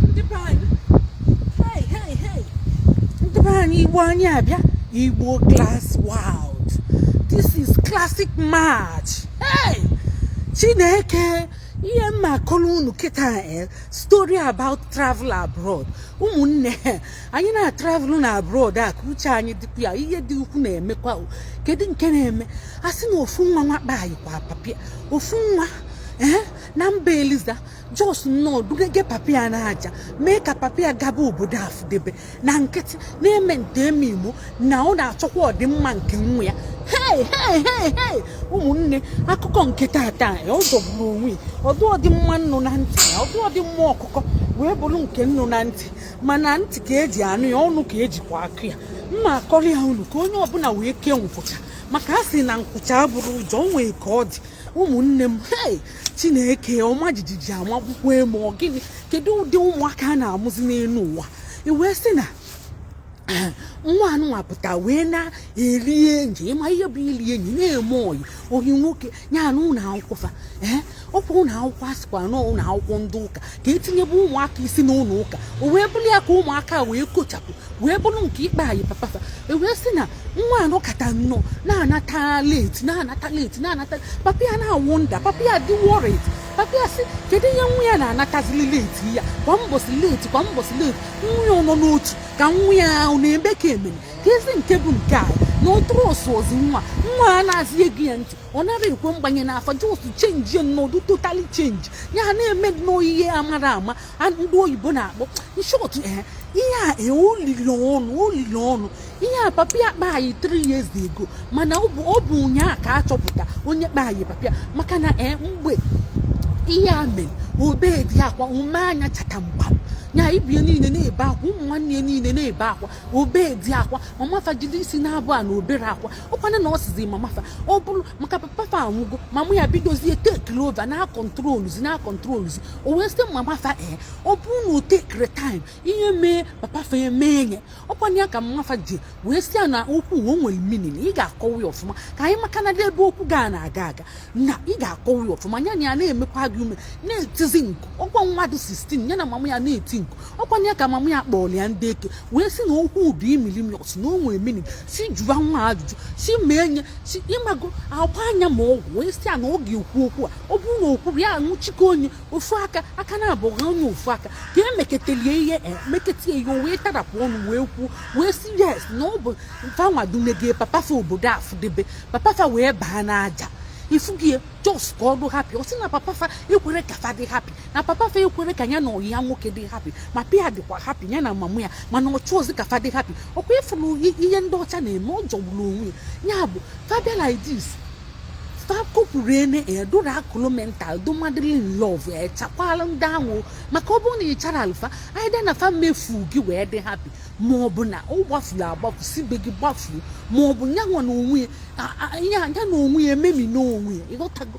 ndị be anyị hey hey hey ndị be anyị igbo anyị abịa igbo class wild this is classic match hey chineke ihe m na-akọrọ unu kịta eh, story about travel abroad ụmụnne anyị na-atravel na abroad a ka uche anyị dịkwa ya ihe dị ukwu na-emekwa kedu nke na-eme a sị na ofu nwa nwa kpanyịkwa papa ya ofu nwa ee eh, na mba eliza just nnọọ dugege papa ya na aja mee ka papa ya gaba obodo afụdebe na nkịtị na-eme nte eme igbo na ọ na-achọkwa ọdịmma nke nwa ya hei hei hei hei ụmụnne akụkọ nke tata ọ jọgburu onwe ọdụ ọdịmma nnụ na ntị ya ọdụ ọdịmma ọkụkọ wee bụrụ nke nnụ na ntị mana ntị ka eji anụ ya ọnụ ka ejikwa akọ ya m ma-akọrọ ya unu ka onye ọbụla wee kee nkwụcha maka a sị na nkwụcha abụrụ ụjọ nwee ka ọ dị ụmụnne m hei chineke ọma jijiji ama akwụkwọ e mee ọ gịnị kedu ụdị ụmụaka a na-amụzi n'elu ụwa i wee sị na nwa anụnwa pụta wee na-eri enyi ị ma ihe bụ iri enyi na-eme ọyị ọyị nwoke ya na ụlọ akwụkwọ fa ee ọkwa ụlọ akwụkwọ a sịkwa na ụlọ akwụkwọ ndị ụka ka etinyebe ụmụaka isi n'ụlọ ụka o wee bụrụ ya ka ụmụaka wee kochapụ wee bụrụ nke ịkpanyị papa fa e wee sị na nwa a nọkata nnọọ na-anata late na-anata late na-anata papa ya na-awonder papa ya dị worried papa ya sị kedu ihe nwa ya na-anatazili late ya kwa mbọsị late kwa mbọsị late nwa ya nọ n'otu ka nwa ya ahụ na-eme ka emere ka ezi nke bụ nke anyị na ụtụrụ ọsụ ozi nwa nwa a anazị ege ya ntị ọ nara ekwe mgbanye n'afọ just change nnọọ totally change ya ha na-eme nnọọ ihe amara ama ndị oyibo na-akpọ in short eh, ihe a eh, olili ọnụ olili ọnụ ihe a papa ya kpanyị 3 years ago mana ọ bụ ụnyaahụ ka a chọpụta onye kpanyị papa ya maka na eh, mgbe ihe a mere o bedị akwa ume anya chata mgba nya ibie niile na-ebe akwa ụmụ nwanne ya niile na-ebe akwa o bedị akwa mama fa jide isi na-abụ a na o berọ akwa ọkwana na ọ sizi mama fa ọ bụrụ maka papa fa anwụgo mama ya bidozie tekiri over na-acontroluzi na-acontroluzi o wee sị mama fa ee eh, ọ bụrụ na o tekiri time ihe mee papa fa ya mee nya ọkwana ya ka mama fa ji wee sị ya na okwu o nwere meaning na ị ga-akọwa ya ọfụma ka anyị maka na ebe okwu ga na-aga aga na ị ga-akọwa ya ọfụma ya na ya na-emekwa gị ume na-etizi mkpu ọkwa nwa dị 16 ya na mama ya na-eti mkpu ọkwana ya ka mama ya kpọrọ ya ndị eke wee sị na okwu bụ imilimiọs na o nwere meaning si jụwa nwa ajụjụ si mee nye si ịmago a gbaa nya ma ọgwụ wee sị ya na ọ ga-ekwu okwu a ọ bụrụ na o kwuru ya anwụchikọ onye ofu aka aka na-abụ ha onye ofu aka ka emeketelie ihe emekete ihe o wee tarapụ ọnụ wee kwuo wee sị yes na ọ bụ fanwa dunege papa fa obodo afụdebe papa fa wee baa n'aja ifugie just ka ọ dụ happy ọ sị na papa fa ekwere ka fa dị happy na papa fa ekwere ka ya na oyi ya nwoke dị happy ma pia dịkwa happy ya na mama ya mana ọ chọọzi ka fa dị happy ọkwa ịfụrụ ihe ndị ọcha na-eme ọ jọgburu onwe ya ya bụ fa bịa like this fa kopụrụ ene edora kolomental dụ madly in love chakwala ndị ahụ maka ọ bụrụ na ịcharalụ fa either na fa mefu gị wee dị happy ma ọ bụ na ọ gbafuru agbafu si be gị gbafuru ma ọ bụ ya nwa na onwe ya a- a- ya ya na onwe ya ememina onwe ya ịghọtago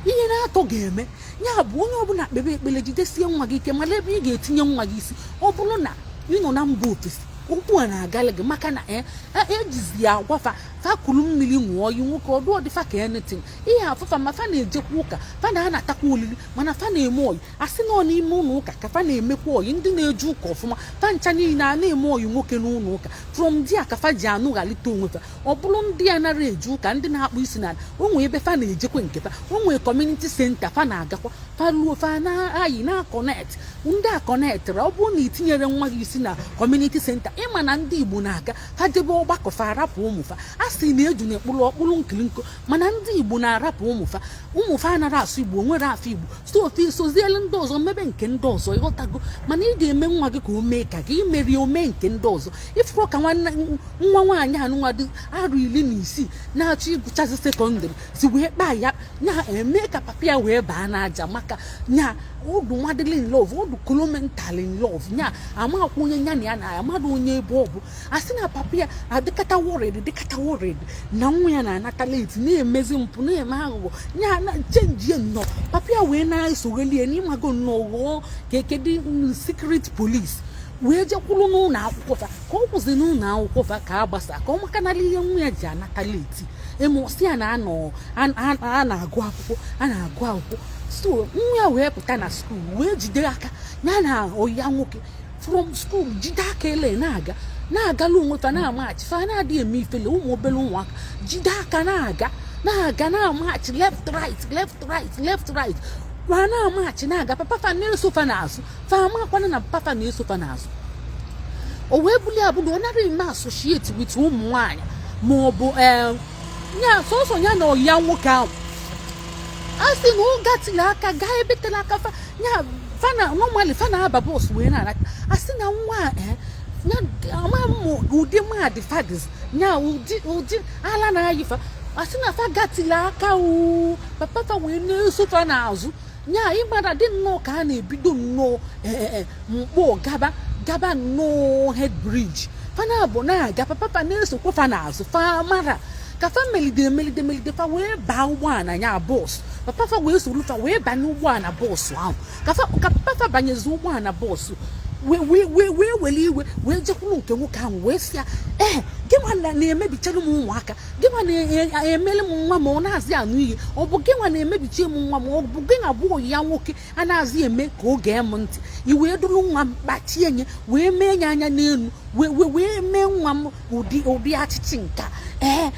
ihe naatọ ga-eme ya bụ onye ọbụla kpebe ekpere jidesie nwa gị ike mara ebe ị ga-etinye nwa gị isi ọ bụrụ na ị nọ na mba ofesi okwu a na-agala gị maka na eh, eh, ejizi ya agwa fa fa kuru mmiri ṅụọ oyi nwoke ọdụ ọdịfa ka anything ihe afụfa ma fa na-ejekwa ụka fa na-anatakwa olili mana fa na-eme oyi a sị na ọ n'ime ụlọ ụka ka fa na-emekwa oyi ndị na-eje ụka ọfụma fa ncha niile a na-eme oyi nwoke n'ụlọ ụka from there ka fa ji anụghalite onwe fa ọ bụrụ ndị anara eje ụka ndị na-akpọ isi n'ala o nwee ebe fa na-ejekwa nke fa o nwee community center fa na-agakwa fa ruo fa na-ayi na-aconnect ndị aconnectịra ọ bụrụ na itinyere nwa gị isi na community center ịma na ndị igbo na-aga fa jebe ọgbakọ fa arapụ ụmụ fa a sị na eju na ekpụrụ ọkpụrụ nkiri nko mana ndị igbo na-arapụ ụmụfa ụmụfa anara asụ igbo nwere afọ igbo so fa esozielu ndị ọzọ mebe nke ndị ọzọ ịghọtago mana ị ga-eme nwa gị ka o mee ka gị imeri o mee nke ndị ọzọ ịfụrụ ka nwa nwaanyị anụnwa dị arụ iri na isii na-achọ ịgụchazi secondary si wee kpaa ya ya eme ka papa ya wee baa n'aja maka ya ọ dụ madly in love ọ dụ kolomental in love ya amakwa onye ya na ya na-ayi mmadụ onye ebe ọ bụ a sị na papa ya adịkata worried dịkata worried na nwa ya na-anata late na-emezi mpụ na-eme aghụghọ ya na chenjie nnọọ papa ya wee na-esoghali ya n'ịmago nnọọ ghọọ ka ekedi secret police wee jekwuru n'ụlọ akwụkwọ fa ka ọ kwụsị n'ụlọ akwụkwọ fa ka a gbasa ka ọ makanala ihe nwa ya ji anata late emụsị ya na anọ a na-agụ akwụkwọ a na-agụ akwụkwọ so nwa ya wee pụta na school wee jide aka ya na oyi ya nwoke from school jide aka ele na-aga na-agala onwe fa na-amachi fa na-adịghị eme ifele ụmụ obere ụmụaka jide aka na-aga na-aga na-amachi left right left right left right kwa na-amachi na-aga papa fa na-eso fa n'azụ fa amakwana na papa na-eso fa n'azụ o wee bulie abụrụ ọ nara eme associate with ụmụ nwaanyị ma ọ bụ eh, ya sọsọ ya na ọyị ya nwoke ahụ a sị na ọ gatiri aka gaa ebe tere aka fa ya fa na normally fa na-aba bọs wee na-ala a sị na nwa a eh, ya ama m ụdị mmadụ fa dịzị ya ụdị ụdị ala na-ayị fa a sị na fa gatiri aka o papa fa wee na-eso fa n'azụ ya ịgbada dị nnọọ ka a na-ebido nnọọ e, e, e, nkpọ gaba gaba nnọọ head bridge fa naabụ na-aga papa na-esokwa fa n'azụ fa mara ka fa melide emelide melide fa wee baa ụgbọala ya bọs papa fa wee soro fa wee banye ụgbọala bọọsụ ahụ ka papa fa banyezi ụgbọala bọọsụ wee wee wee wee were iwe wee jekwuru nke nwoke ahụ wee sị ya ee gịnwa na-emebichara m ụmụaka gịnwa na-emelụ m nwa m ọ nazị anụ ihe ọ bụ gịnwa na-emebichi m nwa m ọ bụ gịnwa bụ ya nwoke anazị eme ka ọ gee m ntị i wee duru nwa m kpachie nye wee mee ya anya n'elu wee mee nwa m ụdị ụdị achịchị nke ee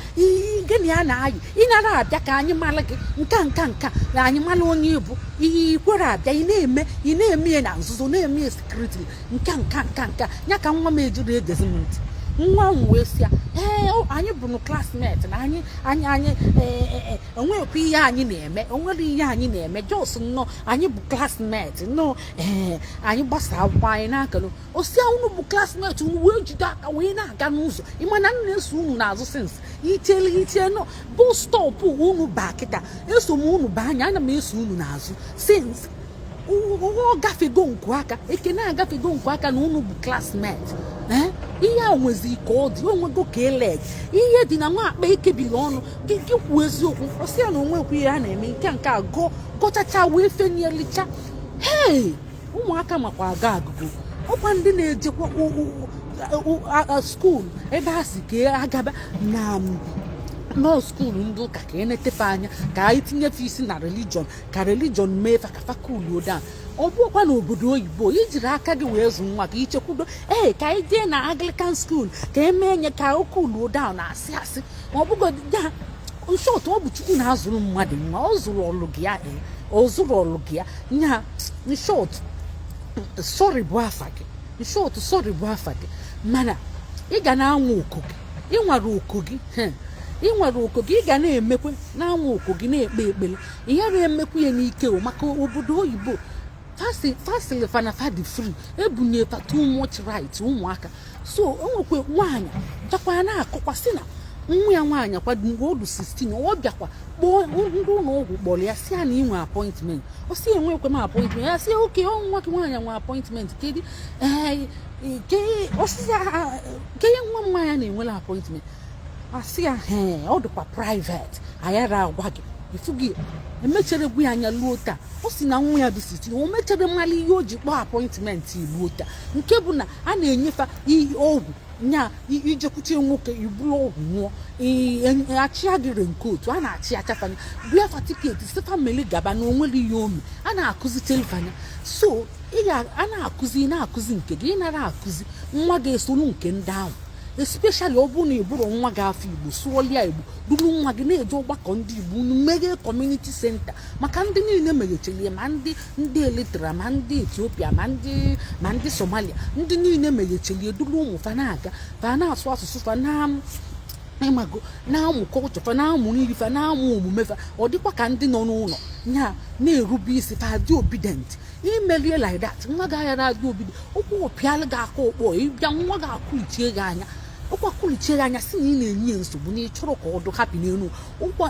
gịnị a na-ayị ị nara abịa ka anyị mara gị nke nke nke na anyị mara onye ị bụ i kwere abịa ị na-eme ị na-eme ya na nzuzo na-eme ya secretly nka nka nka nka ya ka nwa m ejiri egezi m ntị nwa m wee sị ya ee anyị bụrụ classmate na anyị anyị anyị e, e, e, enweghịkwa ihe anyị na-eme o nwere ihe anyị na-eme just nnọọ anyị bụ classmate nnọọ ee anyị gbasa akwụkwọ anyị anakọlụ ọ sị ya unu bụ classmate unu wee jide aka wee na-aga n'ụzọ ị ma na m na-eso unu n'azụ since itele itie na bus stop unu baa kịta eso m unu baa anya ana m eso unu n'azụ since ọ gafego nku aka ekene agafego nku aka na unu bụ classmate eh? ihe a nwezi ka ọ dị o nwego ka eleg ihe dị na nwa akpa e kebiri ọnụ gị gị kwuo eziokwu ọ sị ya na o nwekwu ihe a na-eme nke nke a gọọ gọchacha wee fenielicha hei ụmụaka makwa agọ agụgọ ọ kwa ndị na-ejekwa school ebe a sị ka a gaba nnọọ school ndị ụka ka e nete fa anya ka anyị tinye fa isi na religion ka religion mee fa ka fa kuluo down ọ bụkwa na obodo oyibo i jiri aka gị wee zụ nwa ka i chekwudo ee ka anyị jee na anglican school ka e mee nya ka o kuluo down na asị asị ma ọ bụgodị ya in short ọ bụ chukwu na-azụrụ mmadụ nwa ọ zụrọlụ gị ya ee ọ zụrọlụ gị ya nya in short sorry bụ afa gị in short sorry bụ afa gị mana ị ga na-anwa oko gị ị nwara oko gị he, ị nwara oko gị ị ga na-emekwe na-anwa oko gị na-ekpe ekpere ihe na-emekwu ya n'ike o maka obodo oyibo fa sịlị fa na fa dị free e bunye fa too much right ụmụaka so o nwekwe nwaanyị chakwa na-akọkwa sị na nwa ya nwaanyị kwado mgbe ọ dụ 16 ọ bịakwa kpọọ ndị ụlọ ọgwụ kpọrọ ya sị ya na i nwe appointment ọ sị enwekwe m appointment ya sị okay ọ nwa gị nwaanyị nwe appointment kedu ee ke osisi ke nwa m nwaanyị na-enwere appointment asị ya ọ dịkwa private anyị ara agwa gị ifu gị emechere gwa ya nya luo taa ọ si na nwa ya dị sixteen o mechere mara ihe o ji kpọọ appointment luo taa nke bụ na a na-enyefa ọgwụ nya ijekwute nwoke iburu ọgwụ ṅụọ achịa gị raincoat a na-achị acha fa nya bịa fa tiketi si famili gaba na onwere ihe ome a na-akụzi teli fa nya so a na-akụzi na-akụzi nke gị ịnara akụzi nwa gị esoro nke ndị ahụ especially ọ bụrụ na ị bụrọ nwa gị afa igbo sụọlịa igbo duru nwa gị na-eje ọgbakọ ndị igbo unu meghee community center maka ndị niile meghechilie ma ndị ndị eritrea ma ndị ethiopia ma ndị ma ndị somalia ndị niile meghechilie duru ụmụ fa na-aga fa na-asụ asụsụ fa na ịmago na-amụ culture fa na-amụ nri fa na-amụ omume fa ọ dịkwa ka ndị nọ n'ụlọ ya na-erube isi fa dị obedient imelie like that nwa gị anyara adị obedient ụkwụ ụpịalụ gị aka ụkpọ ịbịa nwa gị akụlichie gị anya ụkwa kụlichie gị anya sị na ị na-enye ya nsogbu na ịchọrọ ka ọ dị happy n'elu ụwa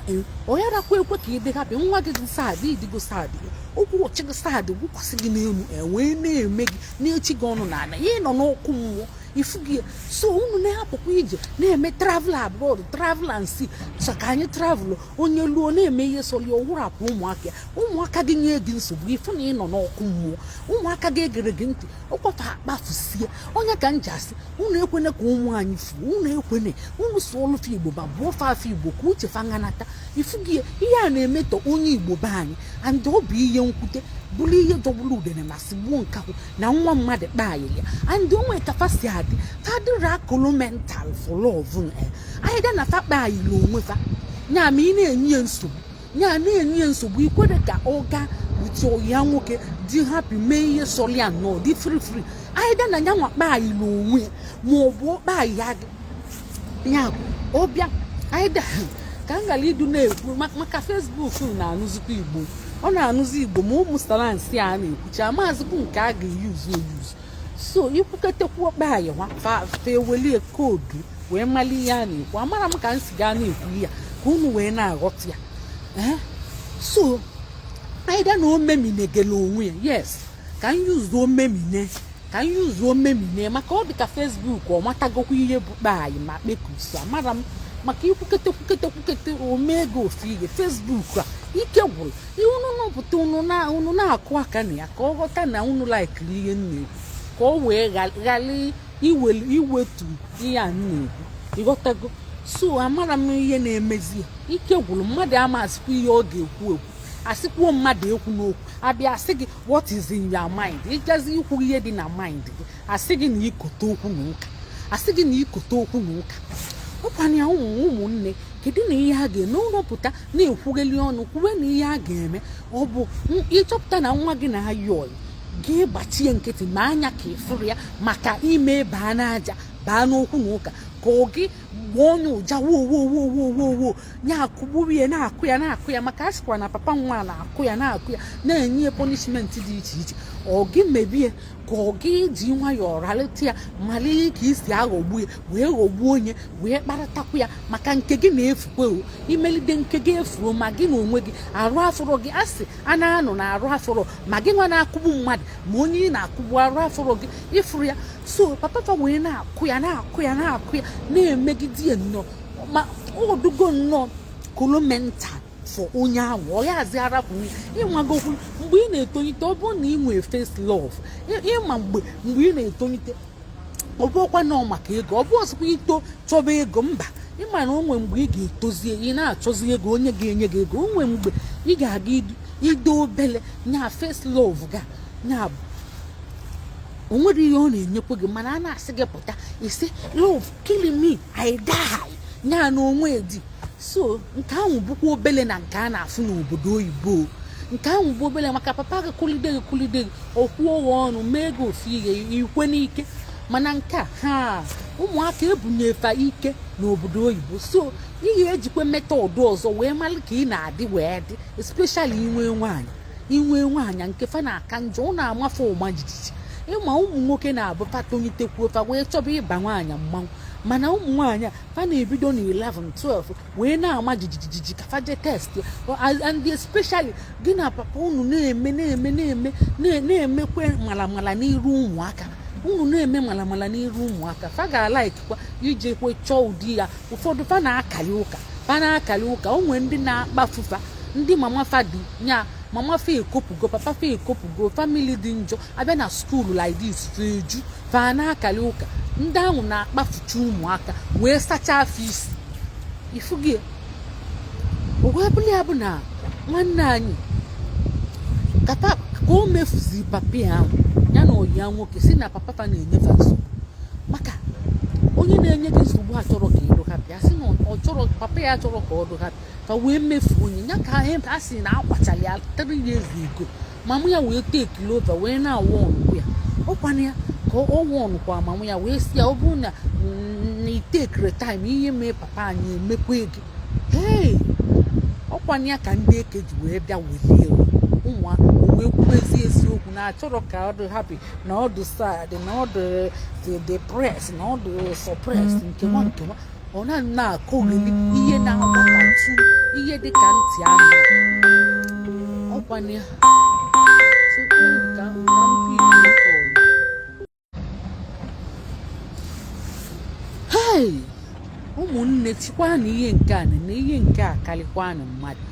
ọ nyarakwa ekwe ka ị dị happy nwa gị dị sad ị dịgo sad ụkwụ ụchị gị sad gwụkwasị gị n'elu ewee na-eme gị na-echi gị ọnụ n'ala ya ị nọ n'ọkụ mmụọ ifu gị so unu na-apụkwa ije na-eme travel abroad travel and see so ka anyị travel onye luo na-eme ihe sọrọ ya ọ wụrapụ ụmụaka ya ụmụaka gị nye gị nsogbu ịfụ na ị nọ n'ọkụ mmụọ ụmụaka gị egere gị ntị ọ kwa fa akpafusie ọ nya ka m ji asị unu ekwene ka ụmụ anyị fuo unu ekwene unu sụọlụ fa igbo ma bụọ fa afa igbo ka uche fa ga-anata ifu gị ihe a na-emetọ onye igbo be anyị and ọ bụ ihe nwute bụrụ ihe jọgburu udene ma sigbuo nkakwụ na nwa mmadụ kpaayị ya and o nwee ka fa si adị fa dịrị kolo mental for love either na fa kpaayịla onwe fa nya ma ị na-enye ya nsogbu ya na-enye ya nsogbu ikwere ka ọ gaa out ya nwoke dị happy mee ihe sọrọ ya nọ dị free free either na ya nwa kpaayịlị onwe ma ọ bụ kpaayị ya ọ bịa either ka m ghara ịdị na-ekwu maka facebook na-anụzikwa igbo ọ na-anụzi igbo ma ụmụ slangs a na-ekwucha maazịkwu nke a ga-eyuzu eyuzu so ikwuketekwu kpaayị fa ewelie code wee mali ihe a na-ekwu amara m ka m si gaa na-ekwu ya ka unu wee na-aghọta ya eh? so either na omeminegele onwe ya yes ka m yuzuo omemine ka m yuzuo omemine maka ọ dị ka facebook ọ matagokwa ihe bụ kpaayị ma kpekusu amara m maka ikwukete kwukete kwukete omego ofu ihe facebook a ike gwụrụ ihe unu nọpụta unu na-akụ aka na ya ka ọ ghọta na unu laikiri ihe m na-ekwu ka ọ wee ghara iwelu iwetu ihe a na-ekwu ịghọtago so amarọ m ihe na-emezi ya ike gwụrụ mmadụ amazikwa ihe ọ ga-ekwu ekwu a sịkwuo mmadụ ekwuna okwu a bịa asị gị what is in your mind ị jazi ikwu ihe dị na mind gị asị gị na ikote okwu na ụka asị gị na ikote okwu na ụka ọ kwa nya ụmụ ụmụnne kedụnụ ihe a ga-eme ọ rọ pụta na-ekwugheli ọnụ kwuwenụ ihe a ga-eme ọ bụ ịchọpụta na nwa gị na-ayị ọyị gị gbachie nkịtị mee anya ka ị fụrọ ya maka ime baa n'aja baa n'okwu na ụka ka ọ gị gbaa onye ụja wowowowowowo ya akụgburu ya na-akụ ya na-akụ ya maka a sịkwa na papa nwa na-akụ ya na-akụ ya na-enye ya punishment dị iche iche ọ gị mebie ka ọ gị ji nwayọọ ralịta ya mara ka ị si aghọgbu ya wee ghọgbuo onye wee kparatakwu ya maka nke gị na-efukwe o i melide nke gị efuo ma gị na onwe gị arụ afọrọ gị asị a na-anụ na arụ afọrọ ma gị nwa na-akụgbu mmadụ ma onye ị na-akụgbu arụ afọrọ gị ị fụrụ ya so papa fa wee na-akụ ya na-akụ ya na-akụ ya na-emegide ya nnọọ ma ọ dịgo nnọọ kolomental for onye ahụ ọ yazị arapụ ya ịnwagokwu mgbe ị na-etolite ọ bụrụ na ị nwee first love ịma mgbe mgbe ị na-etolite ọ bụrọkwanụ maka ego ọ bụrọ sịkwa i too chọba ego mba ịma na o nwe mgbe ị ga-etozie ị na-achọzi ego onye ga-enye gị ego o nwe mgbe ị ga-aka dị obele nya first love gị nya bụ o nwerọ ihe ọ na-enyekwa gị mana a na-asị gị pụta ị sị love kill me I die nya na onwe di so nke ahụ bụkwa obele na nke a na-afụ n'obodo oyibo nke ahụ bụ obele maka papa gị kụlide gị kụlide gị okwu ụgha ọnụ mee gị ofu ihe i kwe n'ike mana nke a ha ụmụaka ebunyefa ike n'obodo oyibo so ị ya-ejikwa method ọzọ wee mara ka ị na-adị wee dị especially i nwee nwaanyị i nwee nwaanyị nke fa na-aka njọ ọ na-ama fa ọma jijiji ịma ụmụ nwoke na-abụ fa tonyitekwuo fa wee chọba ịba nwaanyị mmanwụ mana ụmụ nwaanyị a fa na-ebido na 11 12 wee na-ama jijijiji ka fa je test and especially gị na papa unu na-eme na-eme na-eme na-emekwe malamala n'iru ụmụaka unu na-eme malamala n'iru ụmụaka fa ga-alaikikwa ijekwe chọọ ụdị ya ụfọdụ fa na-akali ụka fa na-akali ụka o nwee ndị na-akpafufa ndị mama fa dị nya mama fa ekopugo papa fa ekopugo family dị njọ a bịa na school like this fa eju baa na-akali ụka ndị ahụ na-akpafucha ụmụaka wee sachaa fa isi ị fụgo ya wee bụrụ ya bụ na nwa nwaanyị kata ka o mefuzi papa ya ya na oyi ya nwoke sị na papa fa na-enye fa nsogbu maka onye na-enye gị nsogbu achọrọ ka ị dị happy a sị na ọ chọrọ papa ya achọrọ ka ọ dị happy wee mefuo onye ya ka a sị na a kwachara ya three years ago mama ya wee take over wee na-awụ ọnụkwụ ya ọkwana ya ka ọ wụ ọnụkwa mama ya wee sị ya ọ bụrụ na itekere time ihe mee papa anyị emekwa gị ee ọkwana ya ka ndị eke ji wee bịa welie ụmụ wee kwubezie eziokwu na achọrọ ka ọ dị happy na ọ dị sad na ọ dị depressed na ọ dị suppressed nkewa nkewa ọ na na-akọgheli ihe na-agbatatụ ihe dị ka ntị anụ ọkwana ya ụmụnne chikwa na ihe nke a na ihe nke a karịkwanụ mmadụ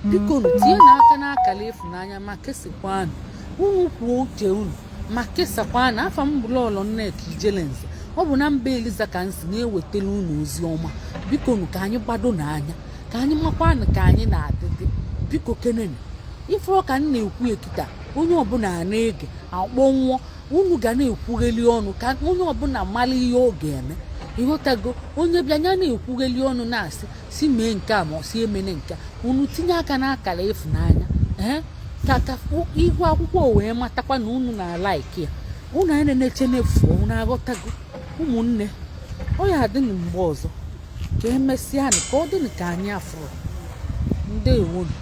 biko tinyenụ aka n'akara ịfụnanya ma kesikwanụ unu kwuo uche unu ma kesakwanụ afa m bụ lọlọ nneka ijelenze ọ bụ na mba eliza ka m si na-ewetara unu ozi ọma bikonụ ka anyị gbadonụ anya ka anyị makwanụ ka anyị na-adịdị biko kenenu ife ka m na-ekwu kịta onye ọbụla na-ege akpọnwụọ unu ga na-ekwugheli ọnụ ka onye ọbụla mara ihe ọ ga-eme ịghọtago onye bịa ya na-ekwugheli ọnụ na-asị sị mee nke a ma ọ sị emene nke unu tinye aka n'akara ịfụnanya ee ka ka ihu akwụkwọ wee matakwa na unu na-alaiki ya unu anyị na-eneche n'efu unu aghọtago ụmụnne ọ ya adịnụ mgbe ọzọ ka emesịa ka ọ dị ka anyị afụrụ ndewonu